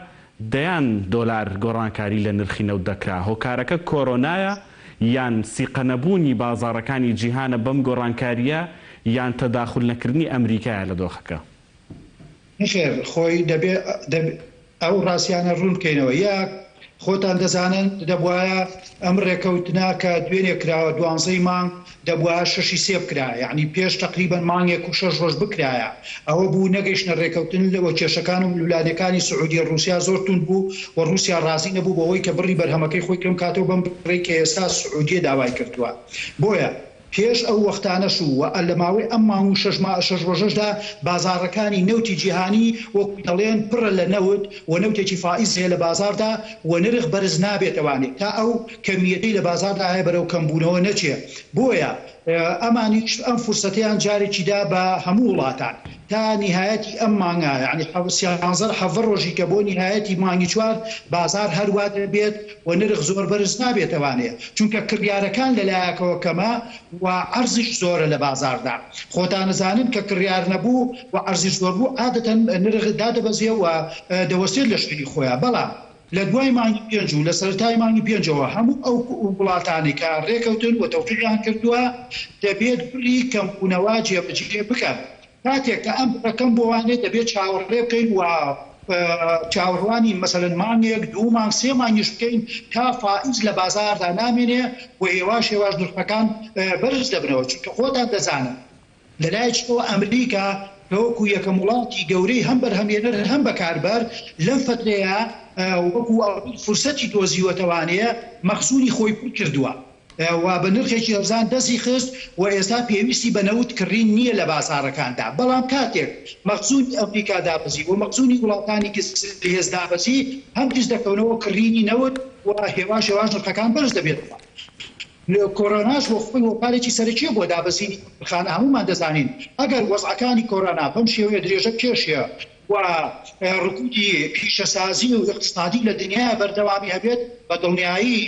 دەیان دۆلار گۆڕانکاری لە نرخی نەوت دەکرا، هۆکارەکە کۆرۆنایە یان سیقەنەبوونی بازاڕەکانی جیهانە بەم گۆڕانکارییە یان تەداخول نەکردنی ئەمریکایە لە دۆخەکە؟ نەخێر خۆی دەبێ ئەو ڕاستیانە ڕوون بکەینەوە یەک خۆتان دەزانن دەبوایە ئەم ڕێکەوتنە کە دوێنێ کراوە دوانزەی مانگ دەبوا شەشی سێ بکرا یەعنی پێش تەقریبەن مانگێک و شەش ڕۆژ بکرایە ئەوە بوو نەگەیشتنە ڕێکەوتن و کێشەکان و ململانێکانی سعودیە ڕوسیا زۆر توند بوو و ڕوسیا ڕازی نەبوو بەوەی کە بڕی بەرهەمەکەی خۆی کەم کاتەوە بەم بڕەی کە ئێستا سعودیە داوای کردووە بۆیە پێش ئەو وەختانەش و وە لە ماوەی ئەم مانگ و شەش ما شەش ڕۆژەشدا بازاڕەکانی نەوتی جیهانی وەکو دەڵێن پڕە لە نەوت و نەوتێکی فائیز هەیە لە بازاڕدا و نرخ بەرز نابێتەوانێ تا ئەو کەمییەکەی لە بازاڕدا هەیە بەرەو کەمبوونەوە نەچێ، بۆیە ئەمانیش ئەم فرسەتەیان جارێکی دا بە هەموو وڵاتان تا نیهایەتی ئەم مانگە یانی حەو سیانزەر حەڤە ڕۆژی کە بۆ نیهایەتی مانگی چوار بازاڕ هەر وا دەبێت و نرخ زۆر بەرز نابێتە وانەیە چونکە کڕیارەکان لە لایەکەوە کەمە و عەرزیش زۆرە لە بازاڕدا خۆتان ئەزانن کە کڕیار نەبوو و عەرزیش زۆر بوو عادەتەن نرخ دادەبەزێ و دەوەستێت لە شوێنی خۆیان بەڵام لە دوای مانگی پێنج و لە سەرەتای مانگی پێنجەوە هەموو ئەو وڵاتانەی کە رێکەوتن و تەوقیعیان کردووە دەبێت بڕی کەمبوونەوە جێبەجێ بکەن، کاتێک کە ئەم بڕە کەم بووانێت دەبێت چاوەڕێ بکەین و چاوەڕوانی مەسەلەن مانگێک، دوو مانگ، سێ مانگیش بکەین تا فائز لە بازاڕدا نامێنێ و هێواش هێواش نرخەکان بەرز دەبنەوە، چونکە خۆتان دەزانن. لەلایەکیتەوە ئەمریکا کە وەکو یەکەم وڵاتی گەورەی هەم بەرهەمهێنەر هەم بەکاربەر لەم فەترەیە وەکو فرسەتی دۆزیوە توانێ مەخزونی خۆی پر کردوە و بە نرخێکی هەرزان دەستی خست و ئێستا پێویستی بە نەوت کڕین نیە لە بازاڕەکاندا بەڵام کاتێک مەخزونی ئەمریکا دابەزی و مەخزونی وڵاتانی زلهێز دابەزی هەم دژ دەکەونەوە کڕینی نەوت و هێواش هێواش نرخەکان بەرز دەبێتەوە. کۆرۆناش بۆ خۆی هۆکارێکی سەرەکییە بۆ دابەزینی نرخانە، هەموومان دەزانین ئەگەر وەزعەکانی کۆرۆنا بەم شێوەیە درێژە بکێشێ و رکودی پیشەسازی و ئیقتسادی لە دنیایا بەردەوامی هەبێت بە دڵنیایی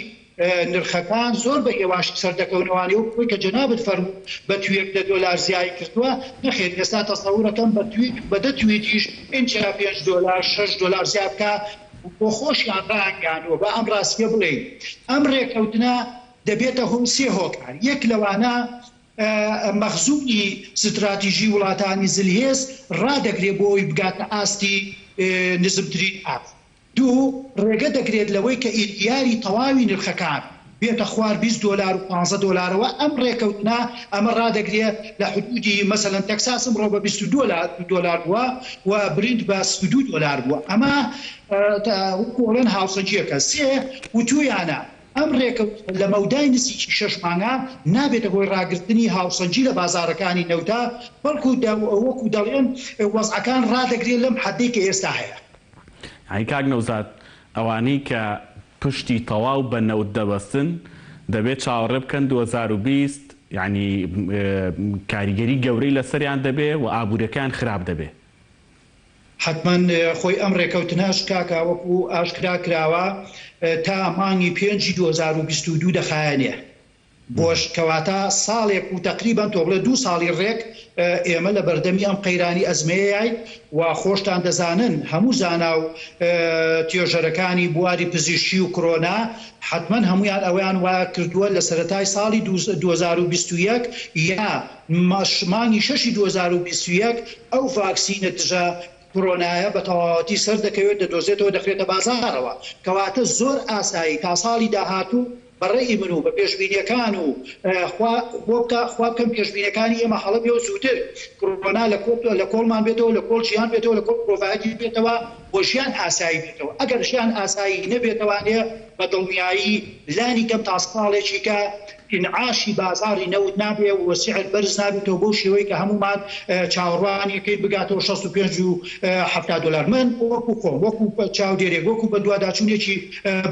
نرخەکان زۆر بە هێواشی سەردەکەونەوە ئەوە بۆی کە جەنابت فەرموو بە تویت دە دۆلار زیایی کردووە نەخێر ئێستا تەسەورەکەم بە تویت بە دە تویتیش ئینجا پێنج دۆلار شەش دۆلار زیاد بکا بۆخۆشیان ڕایانگەیاندووە، با ئەم ڕاستییە بڵێین، ئەم ڕێکەوتنە دەبێتە هۆی سێ هۆکار، یەک لەوانە مەخزوونی ستراتیژی وڵاتانی زلهێز ڕادەگرێت بۆ ئەوەی بگاتە ئاستی نزمترین ئاست، دوو ڕێگە دەگرێت لەوەی کە ئیرگیاری تەواوی نرخەکان بێتە خوار بیست دۆلار و پانزە دۆلارەوە ئەم ڕێکەوتنە ئەمە ڕادەگرێ لە حدودی مەسەلەن تەکساس ئمڕۆ بە بیست و دوو دۆلار بووە و برینت بە سی و دوو دۆلار بووە ئەمە وەکو ئەڵێن هاوسەنگیەکە سێ وتویانە ئەم ڕێکەوتنە لە مەودای نزیکی شەش مانگا نابێتە هۆی ڕاگرتنی هاوسەنگی لە بازاڕەکانی نەوتە بەڵکو وەکو دەڵێن وەزعەکان ڕادەگرێ لەم حەدەی کە ئێستا هەیە. یانی کاک نەوزاد ئەوانەی کە پشتی تەواو بە نەوت دەبەستن دەبێت چاوەڕێ بکەن دوو هەزار و بیست یانی کاریگەری گەورەی لەسەریان دەبێ و ئابوریەکەیان خراپ دەبێ. حەتمەن خۆی ئەم رێکەوتنەش کاکا وەکو ئاشکرا کراوە تا مانگی پێنجی دوو هەزار و بیست و دوو دەخایەنێ. بۆش کەواتە ساڵێک و تەقریبەن تۆ بڵێ دوو ساڵی ڕێک ئێمە لە بەردەمی ئەم قەیرانی ئەزمەیەیاین و خۆشتان دەزانن هەموو زانا و توێژەرەکانی بواری پزیشکی و کرۆنا حەتمەن هەموویان ئەوەیان وا کردووە لە سەرەتای ساڵی دوو دوو هەزار و بیست و یەک یا مانگی شەشی دوو هەزار و بیست و یەک ئەو ڤاکسینە دژە کۆرۆنایە بە تەواوەتی سەر دەکەوێت، دەدۆزێتەوە دەخرێتە بازاڕەوە، کەواتە زۆر ئاسایی تا ساڵی داهاتوو بە ڕەئی من و بە پێشبینیەکان و خوا خۆ بکا خوا بکەم پێشبینەکانی ئێمە هەڵە بێ و زووتر کۆرۆنا لە کۆ لە کۆڵمان بێتەوە لە کۆڵ ژیان بێتەوە لە کۆڵ مرۆڤایەتی بێتەوە و ژیان ئاسایی بێتەوە ئەگەر ژیان ئاسایی نەبێتەوانێ بە دڵنیایی لانی کەم تا ساڵێکیکە ئینعاشی بازاڕی نەوت نابێ و سعر بەرز نابێتەوە بەو شێوەی کە هەموومان چاوەڕوانی ئەکەین بگاتەوە شەست و پێنج و حەفتا دۆلار. من وەکو خۆم، وەکو چاودێرێک، وەکو بەدواداچوونێکی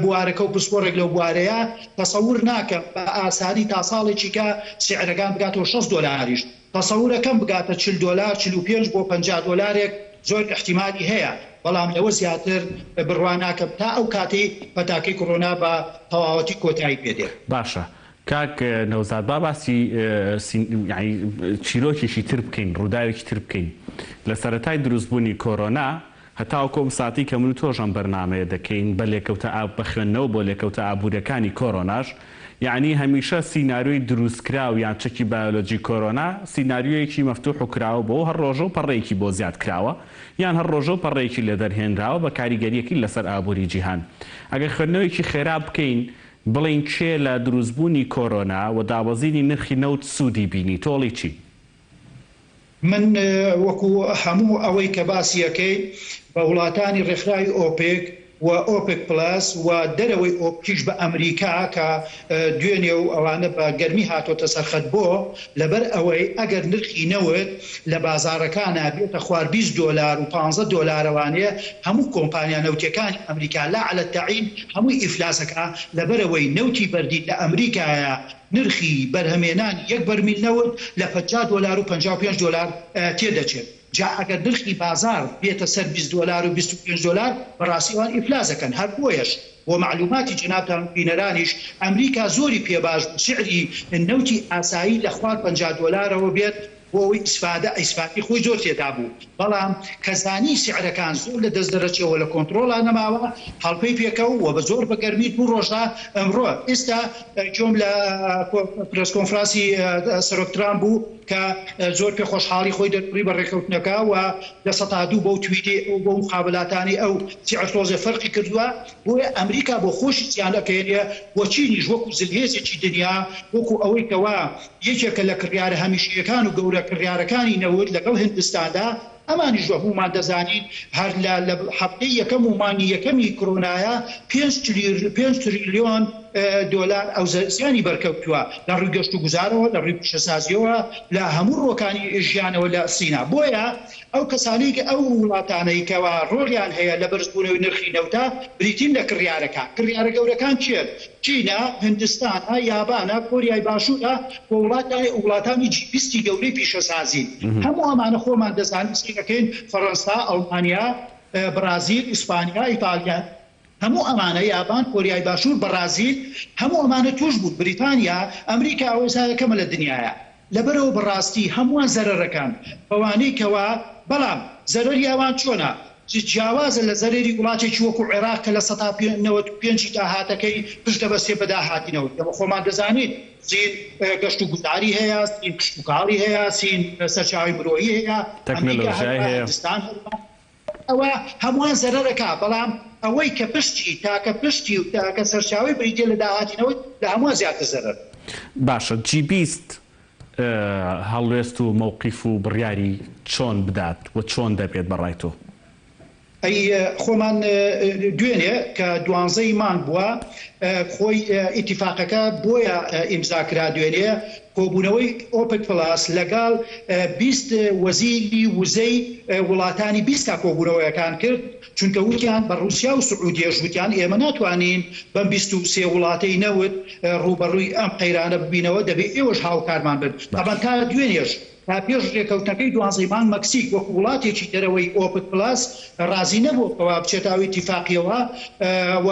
بوارەکە و پسپۆڕێک لەو بوارەیە، تەسەور ناکەم بە ئاسانی تا ساڵێکیکە سعرەکان بگاتەوە شەست دۆلاریش. تەسەورەکەم بگاتە چل دۆلار چل و پێنج بۆ پەنجا دۆلارێک زۆر ئیحتیمالی هەیە بەڵام لەوە زیاتر بڕوا ناکەم تا ئەو کاتەی پەتاکەی کۆرۆنا بە تەواوەتی کۆتایی پێ دێ. باشە کاک نەوزاد با باسی یانی چیرۆکێکی تر بکەین ڕوداوێکی تر بکەین لە سەرەتای دروست بونی کۆرۆنا، هەتاوەکو ئەم ساتەی کە من و تۆش ئەم بەرنامەیە دەکەین بە لێکەوتە ئاب بە خوێندنەوە بۆ لێکەوتە ئابووریەکانی کۆرۆناش یەعنی هەمیشە سیناریۆی دروستکراو یان چەکی بایۆلۆجی کۆرۆنا سیناریۆیەکی مەفتوح و کراوە بۆ و هەر ڕۆژەو پەڕەیەکی بۆ زیاد کراوە یان هەر ڕۆژەو پەڕەیەکی لێ دەرهێنراوە بە کاریگەریەکی لەسەر ئابووری جیهان ئەگەر خوێندنەوەیەکی خێرا بکەین بڵێین کێ لە دروستبوونی کۆرۆنا و دابەزینی نرخی نەوت سوودی بینی تۆڵی چی من وەکو هەموو ئەوەی کە باسی ئەکەیت بە وڵاتانی ڕێکخراوی ئۆپێک و ئۆپێک پڵەس و دەرەوەی ئۆپکیش بە ئەمریکا کە دوێنێ و ئەوانە بە گەرمی هاتۆتە سەر خەت بۆ لەبەر ئەوەی ئەگەر نرخی نەوت لە بازاڕەکانا بێتە خوار بیست دۆلار و پانزە دۆلار ئەوانەیە هەموو کۆمپانیا نەوتیەکانی ئەمریکا لا عەلە تەعین هەمووی ئیفلاس ئەکا لەبەرئەوەی نەوتی بەردین لە ئەمریکایە نرخی بەرهەمێنانی یەک بەرمیل نەوت لە پەنجا دۆلار و پەنجا و پێنج دۆلار تێدەچێت، جا ئەگەر نرخی بازاڕ بێتە سەر بیست دۆلار و بیست و پێنج دۆلار بەڕاستی ئەوان ئیفلاس ئەکەن، هەر بۆیەش بۆ مەعلوماتی جەنابتان و بینەرانیش ئەمریکا زۆری پێ باش بوو سعری نەوتی ئاسایی لە خوار پەنجا دۆلارەوە بێت، بۆ ئەوەی ئیسفادە ئیسفادەی خۆی زۆر تێدا بوو بەڵام کە زانی سعرەکان زۆر لە دەست دەرەچێ و لە کۆنتڕۆڵا نەماوە هەڵپەی پێکەوو و بە زۆر بە گەرمی دوو ڕۆژ دا ئەمڕۆ ئیستا گوێم لە پرێس کۆنفراسی سەرۆک ترامپ بوو کە زۆر پێ خۆشحاڵی خۆی دەربڕی بە ڕێکەوتنەکە و لە سەتا دوو بەو تویتەی ئەو بەو مقابلاتانەی ئەو سعر تۆزێ فەرقی کردوە بۆیە ئەمریکا بۆ خۆشی زیان ئەکەێنێ و چینیش وەکو زلهێزێکی دنیا وەکو ئەوەی کەوا یەکێکە لە کڕیارە هەمیشەیەکان و گەورە کڕیارەکانی نەوت لەگەڵ هندستاندا، ئەمانیش وەهموومان دەزانین هەر لە لە هەفتەی یەکەم و مانگی یەکەمی کرۆنایا پێنج تریلیۆن پێنج تریلیۆن دۆلار ئەو زیانی بەرکەوتووە لە ڕووی گەشتوگوزارەوە لە ڕووی پیشەسازییەوە لە هەموو ڕووەکانی ژیانەوە لە سینا بۆیە ئەو کەسانەی کە ئەو وڵاتانەی کەوا ڕۆڵیان هەیە لە بەرزبوونەوەی نرخی نەوتدا بریتین لە کڕیارەکان، کڕیارە گەورەکان کێن؟ چینە، هندستانە، یابانە، کۆریای باشوورە و وڵاتانی وڵاتانی جی بیستی گەورەی پیشەسازین. هەموو ئەمانە خۆمان دەزانین سەیرەکەین، فەڕەنسا، ئەڵمانیا، بڕازیل، ئیسپانیا، ئیتاڵیا. هەموو ئەمانە یابان کۆریای باشور بەڕازیل هەموو ئەمانە توش بوون بریتانیا ئەمریکا ئەوەسا یەکەمە لە دنیایا لەبەرئەوە بەڕاستی هەمووان زەرەرەکان بەوانەی کەوا بەڵام زەرەری ئەوان چۆنە جیاوازە لە زەرەری وڵاتێکی وەکو عێراق کە لە سەتا نەوەد و پێنج ی داهاتەکەی پشت دەبەستێ بە داهاتینەوە ئێمە خۆمان دەزانین چین گەشت و گوزاری هەیە چین کشتوکاڵی هەیە چین سەرچاوەی مرۆیی هەیە ئەمریکا هەروەها هندستان هەروەها. ئەوە هەمووان زەرەر ئەکا بەڵام ئەوەی کە پشتی تاکە پشتی و تاکە سەرچاوەی بریتیە لە داهاتینەوەی لە هەمووان زیاتر زەرەر. باشە جی بیست هەڵوێست و مەوقیف و بڕیاری چۆن بدات و چۆن دەبێت بە ڕای تۆ؟ ئەی خۆمان دوێنێ کە دوانزەی مانگ بووە خۆی ئیتیفاقەکە بۆیە ئیمزا کرا دوێنێ، کۆبوونەوەی ئۆپک پڵاس لەگەڵ بیست وەزیری وزەی وڵاتانی بیست تا کۆبوونەوەیەکان کرد، چونکە وتیان بە ڕووسیا و سعودیەش وتیان ئێمە ناتوانین بەم بیست و سێ وڵاتەی نەوت ڕووبەڕووی ئەم قەیرانە ببینەوە، دەبێ ئێوەش هاوکارمان بن. تابان تا دوێنێش تا پێش رێکەوتنەکەی دوازدەی مانگ مەکسیک وەکو وڵاتێکی دەرەوەی ئۆپک پلاس رازی نەبووە کەوا بچێتە ئەو ئیتیفاقیەوە و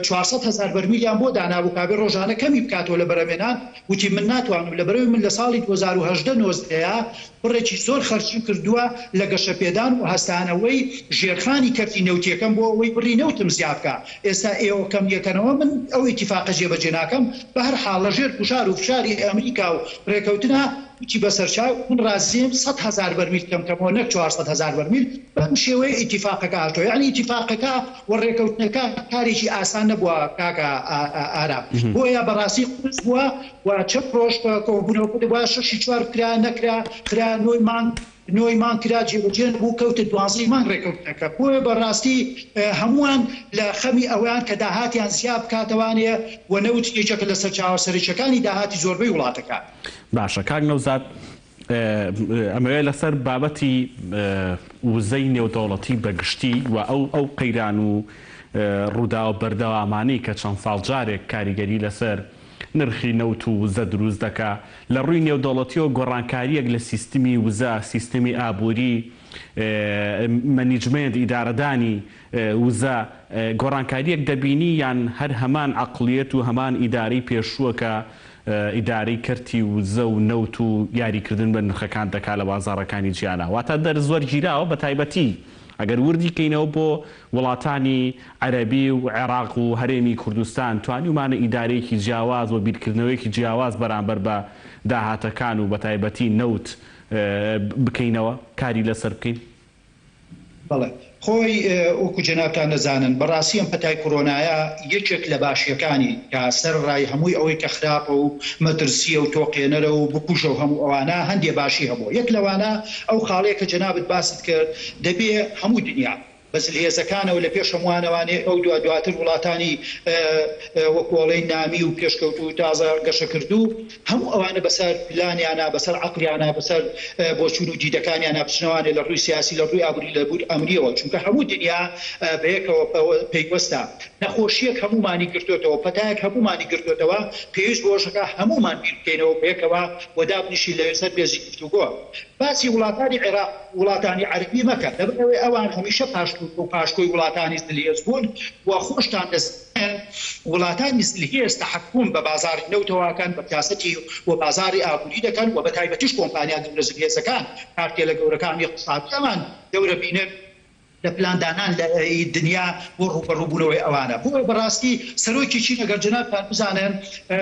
چوار سەد هەزار بەرمیلیان بۆ دانابوو کابێ رۆژانە کەمی بکاتەوە لە بەرەمێنان وتی من ناتوانم لەبەرەوی من لە ساڵی دوو هەزار و هەژدە نۆزدەیا بڕێکی زۆر خەرجیم کردووە لە گەشەپێدان و هەستانەوەی ژێرخانی کەرتی نەوتیەکەم بۆ ئەوەی بڕی نەوتم زیاد بکا ئێستا ئێوە کەمیەکەنەوە من ئەو ئیتیفاقە جێبەجێ ناکەم بەهەرحاڵ لەژێر گوشار و فشاری ئەمریکا و رێکەوتنە وتی بە سەرچاو من رازیم سەد هەزار بەرمیل کەمکەمەوە نەک چوار سەد هەزار بەرمیل، بەم شێوەیە ئیتیفاقەکە هاتوە، یەعنی ئیتیفاقەکە و رێکەوتنەکە کارێکی ئاسان نەبوە کاکە ئارام، بۆیە بەڕاستی قورس بوە و چەند رۆژ کۆبونەوەکە دەبوایە شەش ی چوار بکرا نەکرا، خرا نۆی مانگ نۆی مانگ کرا جێبەجێ نەبو کەوتە دوانزەی مانگ رێکەوتنەکە، بۆیە بەڕاستی هەموان لە خەمی ئەوەیان کە داهاتیان زیاد بکاتەوانێ و نەوت یەکێکە لە سەرچاوە سەرەکیەکانی داهاتی زۆربەی وڵاتەکان. باشە کاک نەوزاد ئەمەوێ لەسەر بابەتی وزەی نێودەوڵەتی بە گشتی و ئەو ئەو قەیران و ڕووداوە بەردەوامانەی کە چەند ساڵ جارێک کاریگەری لەسەر نرخی نەوت و وزە دروست دەکا لە ڕووی نێودەوڵەتیەوە گۆڕانکاریەک لە سیستمی وزە سیستمی ئابووری مەنیجمێنت ئیدارەدانی وزە، گۆڕانکارییەک دەبینی یان هەر هەمان عەقڵیەت و هەمان ئیدارەی پێشووە کە ئیدارەی کەرتی وزە و نەوت و یاریکردن بە نرخەکان دەکات لە بازاڕەکانی جیانا واتە دەرز وەرگیراوە بەتایبەتی ئەگەر وردی کەینەوە بۆ وڵاتانی عەرەبی و عێراق و هەرێمی کوردستان توانیومانە ئیدارەیەکی جیاواز و بیرکردنەوەیەکی جیاواز بەرامبەر بە داهاتەکان و بەتایبەتی نەوت بکەینەوە کاری لەسەر بکەین. بەڵێ خۆی وەکو جەنابتان دەزانن بەڕاستی ئەم پەتای کۆرۆنایە یەکێک لە باشیەکانی کە سەر ڕای هەمووی ئەوەی کە خراپە و مەترسیە و تۆقێنەرە و بکوژە و هەموو ئەوانە هەندێ باشی هەبووە یەک لەوانە ئەو خاڵەیە کە جەنابت باست کرد دەبێ هەموو دنیا بە زلهێزەکانەوە لە پێش هەمووانەوانێ ئەو دوا دواتر وڵاتانی وەکو ئەڵێی نامی و پێشکەوتوو تازە گەشەکردوو هەموو ئەوانە بەسەر پلانیانا، بەسەر عەقڵیانا، بەسەر بۆچوون و دیدەکانیانا بچنەوانێ لە ڕووی سیاسی، لە ڕووی ئابووری، لە ڕووی ئەمنییەوە، چونکە هەموو دنیا بەیەکەوە پەیوەستە. نەخۆشییەک هەموومانی گرتۆتەوە، پەتایەک هەموومانی گرتۆتەوە، پێویست بوو ئەوشەکە هەموومان بیر بکەینەوە بەیەکەوە و دابنیشین لە سەر مێزی گفتوگۆ. باسی وڵاتانی عێراق و وڵاتانی عەرەبی مەکە، لەبەرئەوەی ئەوان هەمیشە پاشکۆ و پاشکۆی وڵاتانی زلهێز بوون و خۆشتان دەزانن. وڵاتان میسل هێز تەحەکوم بە بازاری نەوتەواکان بە پیاسەتی و بازاری ئابوری دەکەن و بە تایبەتیش کۆمپانیا گەورە زلهێزەکان کارتێلە گەورەکان و اقتصادی ئەمان گەورە بینن لە پلان دانان لە ی دنیا بۆ ڕوبەڕو بونەوەی ئەوانە بۆیە بە ڕاستی سەرۆکی چین ئەگەر جەنابتان بزانن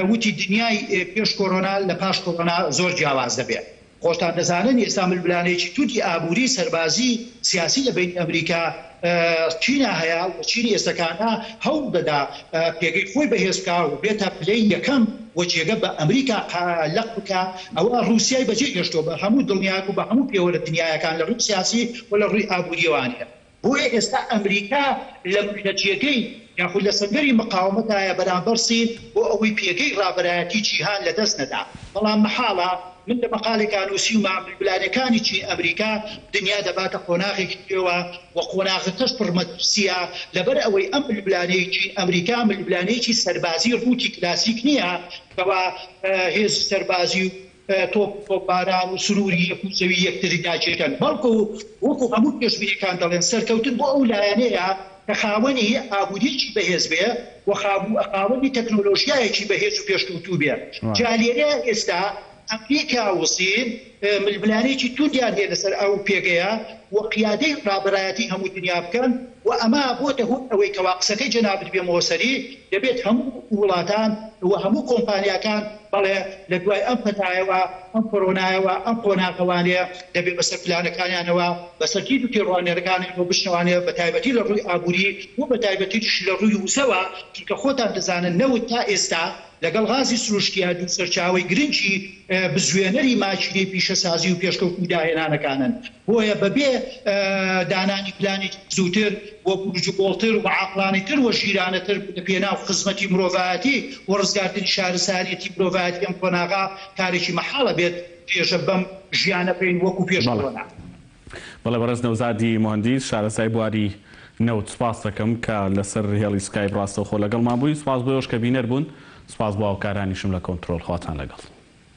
وتی دنیای پێش کۆرۆنا لە پاش کۆرۆنا زۆر جیاواز دەبێ. خۆشتان دەزانن ئێستا ململانێیەکی توندی ئابووری، سەربازی، سیاسی لە بەینی ئەمریکا، چینا هەیە و چینی ئێستەکانە هەوڵ دەدا پێگەی خۆی بەهێز بکا و بێتە پلەی یەکەم و جێگە بە ئەمریکا لەق بکا، ئەوە ڕووسیای بەجێ هێشتووە بە هەموو دڵنیایەک و بە هەموو پێوەرە دنیایەکان لە ڕووی سیاسی و لە ڕووی ئابوورییەوە ئانیە. بۆیە ئێستا ئەمریکا لە لە جێگەی یاخود لە سەنگەری مقاومەتایە بەرامبەر سین بۆ ئەوەی پێگەی ڕابەرایەتی جیهان لە دەست نەدا بەڵام مەحاڵە من لە مەقالێکا نووسیومە ململانێکانی چین ئەمریکا دنیا دەباتە قۆناغێکی نوێوە و قۆناغەکەش پڕ مەترسییە لەبەر ئەوەی ئەم ململانێی چین ئەمریکا ململانێکی سەربازی ڕووتی کلاسیک نییە کەوا هێزی سەربازی و تۆپباران و سروری یەک و زەوی یەکتری ناکێشن، بەڵکو وەکو هەموو پێشبینیەکان دەڵێن سەرکەوتن بۆ ئەو لایەنەیە کە خاوەنی ئابوریەکی بەهێز بێ و خاوەنی تەکنۆلۆژیایەکی بەهێز و پێشکەوتوو بێ جا لێرەیا ئێستا ئەمریکا و سین ململانێکی توندیان هەیە لەسەر ئەو پێگەیە و قیادەی رابەرایەتی هەموو دنیا بکەن و ئەمە بۆتە هۆی ئەوەی کەوا قسەکەی جەنابت بێمەوە سەری دەبێت هەموو وڵاتان و هەموو کۆمپانیاکان بەڵێ لە دوای ئەم پەتایەوە، ئەم کۆرۆنایەوە، ئەم قۆناغە وانەیە، دەبێ بەسەر پلانەکانیانەوە، بەسەر دید و تێڕوانینەکانیانەوە بشنەوانێ، بە تایبەتی لە ڕووی ئابووری و بە تایبەتیش لە ڕووی وزەوە، چونکە خۆتان دەزانن نەوت تا ئێستا لەگەڵ غازی سروشتییە دوو سەرچاوەی گرنگی بزوێنەری ماکینەی پیشەسازی و پێشکەوتن و داهێنانەکانن. بۆیە بە بێ دانانی پلانێکی زووتر و پروژوکۆڵتر و عاقڵانەتر و ژیرانەتر لە پێناو خزمەتی مرۆڤایەتی و ڕزگارکردنی شارستانیەتی مرۆڤایەتی ئەم قۆناغە کارێکی مەحاڵە بێت درێژە بەم ژیانە بەین وەکو پێش بەڵێ کۆرۆنا. بەڵێ بەڕێز نەوزادی موهەندیس شارەزای بواری نەوت سوپاست دەکەم کە لەسەر هێڵی سکایپ ڕاستەوخۆ لەگەڵمان بووی سوپاس بۆیۆش کە بینەر بوون سوپاس بۆ هاوکارانیشم لە کۆنترۆڵ خواتان لەگەڵ.